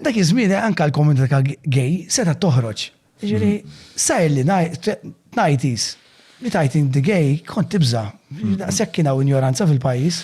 Dak iż-żmien anke l-komunità gay setgħet toħroġ. Jiġifieri sajr li ngħid li tgħid inti gay kont tibża'. Daqshekk kien hawn injoranza fil-pajjiż.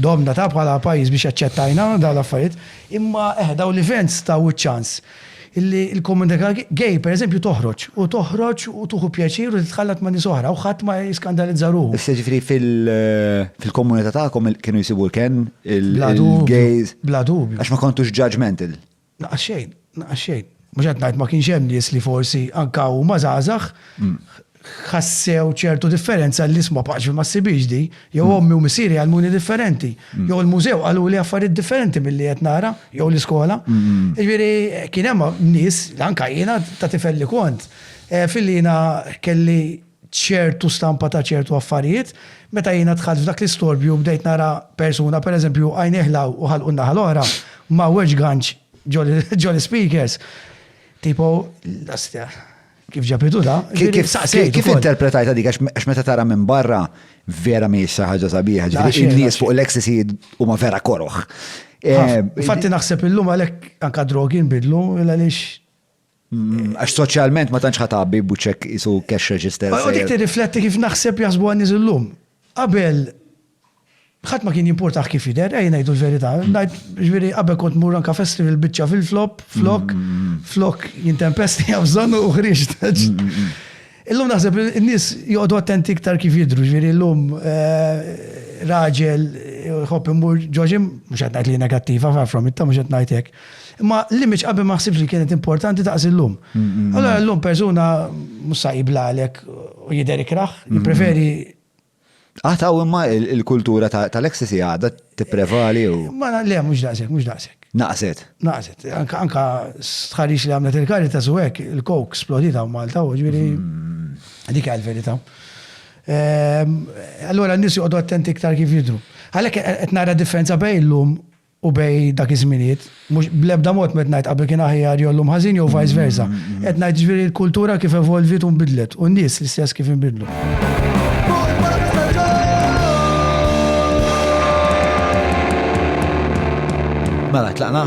Domna ta' bħala pajjiż biex aċċettajna dawn l-affarijiet. Imma eħe dawn l-events taw iċ-ċans li l-komunità gay pereżempju toħroġ u toħroġ u tieħu pjaċir u titħallat ma' nies oħra u ħadd ma jiskandalizza ruħu. Issa jiġifieri fil-komunità tagħkom kienu jsibu l-kenn il-gays. Bla dubju. Għax ma kontux judgmental. Naqas xejn, naqas xejn. Mhux qed ngħid ma kienx hemm nies li forsi anke huma żgħażagħ ħassew ċertu differenza li isma' paċ ma ssibhiex di, jew ommi u missieri għallmuni differenti, jew il-mużew qaluli affarijiet differenti milli qed nara, jew l-iskola. Jiġifieri kien hemm nies, anke jiena ta' tifel li kont, fil-li jiena kelli ċertu stampa ta' ċertu affarijiet. Meta jiena dħalt f'dak l-istorbju bdejt nara persuna pereżempju għajnejh 'l hawn u ħalqu n-naħa l-oħra, mgħawweġ ganċ ġo l-ispeakers. Tipo, l-ostja, kif ġabitu da? Kif interpretajta dik għax meta tara minn barra vera mi xi ħaġa sabiħa, ġifieri n-nies fuq l-ecstasy huma vera koroħ. Eh, Fatti naħseb illum għalhekk anka drogi nbidlu għaliex Mm, għax soċjalment ma tantx ħatabi buċek isu cash register. U dik tirrifletti kif naħseb jasbu għan illum. Qabel ħadd ma kien jimportaħ kif jidher, ej ngħidu l-verità. Mm. Ngħid ġifieri qabel kont mur anke festival biċċa fil-flop, flok, mm, flok jintempesti għabżon u ħriġt. Illum naħseb li n-nies joqogħdu attenti iktar kif jidhru, jiġifieri llum raġel jħobb imur ġo gym, mhux qed ngħid li hi negattiva, far from it, mhux qed ngħid hekk. Imma l-image qabel ma ħsibx li kienet importanti daqs illum. Allura llum persuna mhux sa jibla għalhekk u jidher ikrah, jippreferi Għad hawn imma il-kultura tal-ecstasy għadha tipprevali u. Ma le mhux daqshekk, mhux daqshekk. Naqset. Naqset. Anke stħarriġ li għamlet il-Caritas u hekk, il-coke splodiet hawn Malta u ġifieri dik hi l-verità. Allura n-nies joqogħdu attenti iktar kif jidhru. Għalhekk qed nara differenza bejn illum u bejn dak iż-żminijiet, mhux bl-ebda mod m'qed ngħid qabel kien aħjar jew llum ħażin jew vice versa. Qed ngħid jiġifieri l-kultura kif evolviet u nbidlet u n-nies l-istess kif inbidlu. Mela, tlaqna?